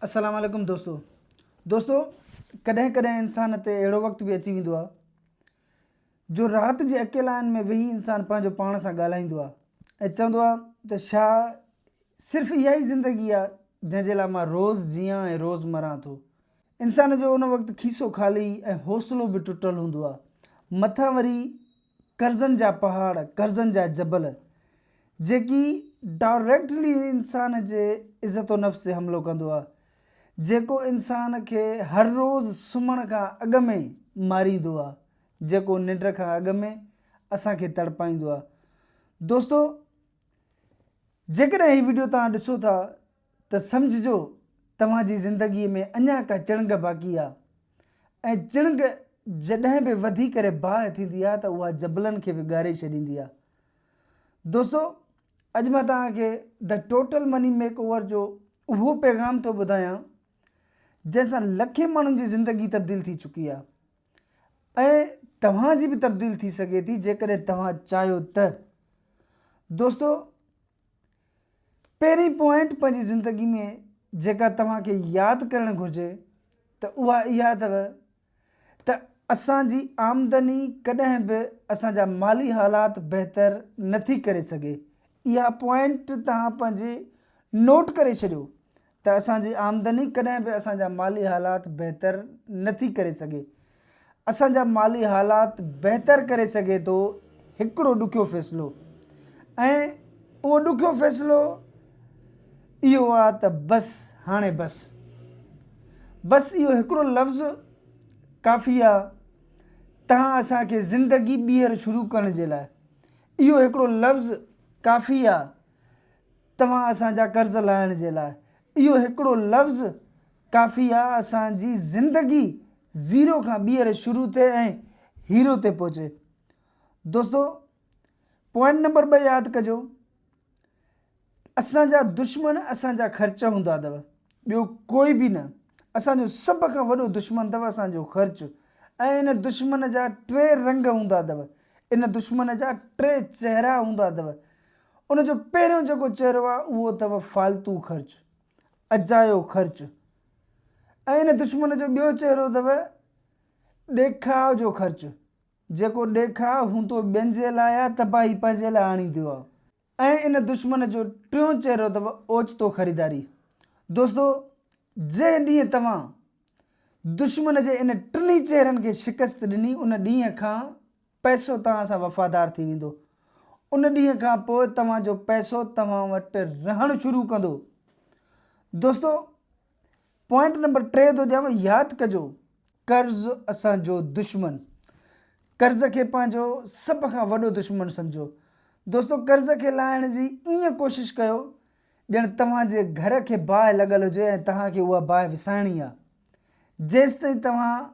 السلام عليڪم دوستو دوستو ڪڏهن ڪڏهن انسان تي اهڙو وقت به اچي ويندو آهي جو رات جي اڪيلائين ۾ ويهي انسان پنهنجو پاڻ سان ڳالهائيندو آهي ۽ چوندو آهي ته شا صرف اها ئي زندگي آهي جنهن جي لاء مان روز جيان ۽ روز مران ٿو انسان جو ان وقت کيسو خالي ۽ حوصلو به ٽٽل هوندو آهي مٿان وري قرضن جا پهاڙ، قرضن جا جبل، جيڪي ڊائريڪٽلي انسان جي عزت و نفس تي حملو ڪندو آ، جيڪو انسان کي هر روز سمهڻ کان اڳ ۾ ماريندو آ، جيڪو ننڊ کان اڳ ۾ اسان کي تڙپائيندو آ. دوستو! جيڪڏهن هي وڊيو توهان ڏسو ٿا ته سمجهجو توهان جي زندگيء ۾ اڃا ڪا چڻگ باقي آ ۽ چڻگ جڏهن به وڌي ڪري باهه ٿيندي آ ته اها جبلن کي به ڳاري ڇڏيندي آ. دوستو اڄ مان توهان کي The Total Money Makeover جو اهو پيغام ٿو ٻڌايان جنهن سان لکين ماڻهن جي زندگي تبديل ٿي چڪي آ ۽ توهان جي به تبديل ٿي سگهي ٿي جيڪڏهن توهان چاهيو ته. دوستو پهرين پوائنٽ پنهنجي زندگي ۾ جيڪا توهان کي ياد ڪرڻ گهرجي ته اها اها اٿو ته اسان جي آمدني ڪڏهن به اسان جا مالي حالات بهتر نٿي ڪري سگهي اها پوائنٽ توهان پنهنجي نوٽ ڪري ڇڏيو ته اسان جي آمدني ڪڏهن به اسان جا مالي حالات بهتر نه ٿي ڪري سگهي. اسان جا مالي حالات بهتر ڪري سگهي ٿو هڪڙو ڏکيو فيصلو ۽ اهو ڏکيو فيصلو اهو آ ته بس هاڻي بس. بس اهو هڪڙو لفظ ڪافي آ تهان اسان کي زندگي ٻيهر شروع ڪرڻ جي لاء. اهو هڪڙو لفظ ڪافي آ. توهان اسان جا قرض لاهڻ جي لاء اهو هڪڙو لفظ ڪافي آ اسان جي زندگي زيرو کان ٻيهر شروع ٿئي ۽ هيرو تي پهچي دوستو پوائنٽ نمبر ٻه ياد ڪجو اسان جا دشمن اسان جا خرچ هوندا اٿو ٻيو ڪوئي به نه اسان جو سڀ کان وڏو دشمن اٿو اسان جو خرچ ۽ ان دشمن جا ٽي رنگ هوندا اٿو ان دشمن جا ٽي چهرا هوندا اٿو ان جو پهريون جيڪو چهرو آهي اهو اٿو فالتو خرچ، اجايو خرچ ۽ ان دشمن جو ٻيو چهرو اٿو ڏيکاء جو خرچ، جيڪو ڏيکاء هون تو ٻين جي لاء آهي ته تباهي پنهنجي لاء آڻيندو آهي ۽ ان دشمن جو ٽيون چهرو اٿو اوچتو خريداري. دوستو جنهن ڏينهن توهان دشمن جي ان ٽنهي چهرن کي شڪست ڏني ان ڏينهن کان پئسو توهان سان وفادار ٿي ويندو. ان ڏينهن کان پوء توهان جو پئسو توهان وٽ رهڻ شروع ڪندو. دوستو پوائنٽ نمبر ٽي ٿو ڏيانو ياد ڪجو قرض اسان جو دشمن قرض کي پنهنجو سڀ کان وڏو دشمن سمجهو دوستو قرض کي لاهڻ جي ائين ڪوشش ڪيو ڄڻ توهان جي گهر کي باهه لڳل هجي ۽ توهان کي اها باهه وسائڻي آهي. جيستائين توهان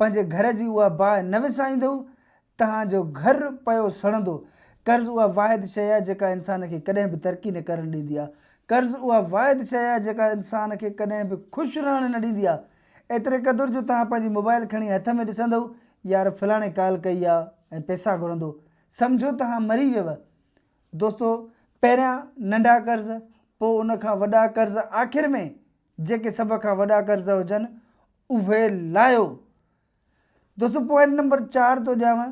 پنهنجي گهر جي اها باهه نه وسائيندؤ، توهان جو گهر پيو سڙندو. قرض اها واحد شيء آهي جيڪا انسان کي ڪڏهن به ترقي نه ڪرڻ ڏيندي آهي. قرض اها واحد شيء آهي جيڪا انسان کي ڪڏهن به خوش رهڻ نه ڏيندي آهي. ايتري قدر جو توهان پنهنجي موبائل کڻي هٿ ۾ ڏسندؤ، يار فلاڻي ڪال ڪئي آهي ۽ پئسا گهرندو. سمجهو توهان مري ويو. دوستو پهريان ننڍا قرض پوء ان کان وڏا قرض آخر ۾ جيڪي سڀ کان وڏا قرض هجن اهي لاهيو. دوستو پوائنٽ نمبر چار ٿو ڏيانو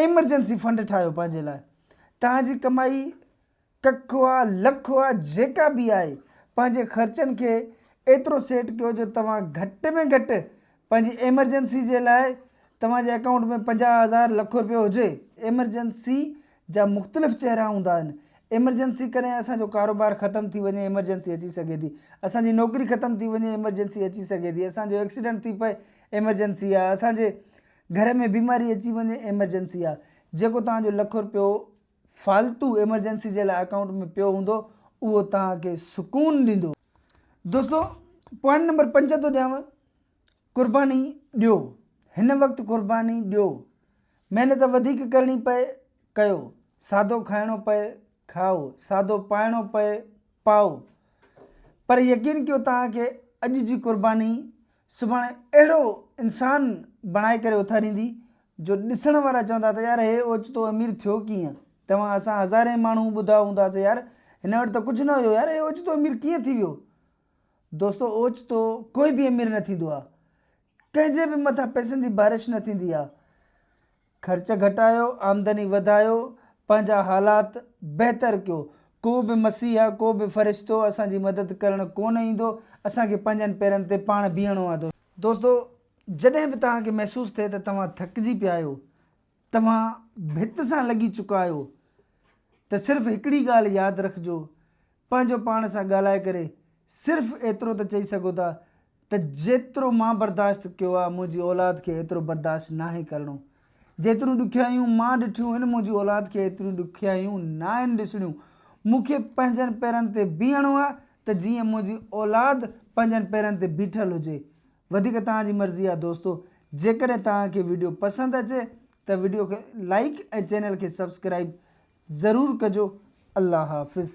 ايمرجنسي فنڊ ٺاهيو پنهنجي لاء توهان جي ڪمائي ڪک هئا لک هئا جيڪا به آهي پنهنجي خرچن کي ايترو سيٽ ڪيو جو توهان گهٽ ۾ گهٽ پنهنجي ايمرجنسي جي لاء توهان جي اڪائونٽ ۾ پنجاهه هزار لک روپيو هجي. ايمرجنسي جا مختلف چهرا هوندا آهن. ايمرجنسي ڪڏهن اسان جو ڪاروبار ختم ٿي وڃي ايمرجنسي اچي سگهي ٿي. اسان جي نوڪري ختم ٿي وڃي ايمرجنسي اچي سگهي ٿي. اسان جو ايڪسيڊنٽ ٿي پئي ايمرجنسي آهي. اسان جي گهر ۾ بيماري اچي وڃي ايمرجنسي آهي. جيڪو توهان جو لک روپيو فالتو ايمرجنسي جي لاء اڪائونٽ ۾ پيو هوندو اهو توهان کي سڪون ڏيندو. دوستو پوائنٽ نمبر پنج ٿو ڏيانو. قرباني ڏيو هن وقت قرباني ڏيو محنت وڌيڪ ڪرڻي پئي ڪيو سادو کائڻو پئي کائو سادو پائڻو پئي پائو پر يقين ڪيو توهان کي اڄ جي قرباني سڀاڻي اهڙو انسان بڻائي ڪري اٿاريندي جو ڏسڻ وارا چوندا ته يار هي اوچتو امير ٿيو ڪيئن توهان اسان هزارين ماڻهو ٻڌا هونداسي يار هن وٽ ته ڪجهه نه هيو يار هي اوچتو امير ڪيئن ٿي ويو دوستو اوچتو ڪوئي به امير نه ٿيندو آ ڪنهن جي به مٿان پئسن جي بارش نه ٿيندي آ خرچ گهٽايو آمدني وڌايو پنهنجا حالات بهتر ڪيو ڪو به مسيح ڪو به فرشتو اسان جي مدد ڪرڻ ڪونه ايندو اسان کي پنهنجن پيرن تي پاڻ بيهڻو آ دوستو جڏهن به توهان کي محسوس ٿئي ته توهان ٿڪجي پيا آهيو توهان ڀت سان لڳي چڪا آهيو ته صرف هڪڙي ڳالهه ياد رکجو پنهنجو پاڻ سان ڳالهائي ڪري صرف ايترو ته چئي سگهو ٿا ته جيترو مان برداشت ڪيو آهي منهنجي اولاد کي ايترو برداشت ناهي ڪرڻو جيتريون ڏکيائيون مان ڏٺيون هن منهنجي اولاد کي ايتريون ڏکيائيون ناهن ڏسڻيون مون کي پنهنجن پيرن تي بيهڻو آهي ته جيئن منهنجي اولاد پنهنجن پيرن تي بيٺل هجي وڌيڪ توهان جي مرضي آهي دوستو جيڪڏهن توهان کي ويڊيو پسند اچي ته ويڊيو کي لائيڪ ۽ چينل کي سبسڪرائيب ضرور ڪجو الله حافظ.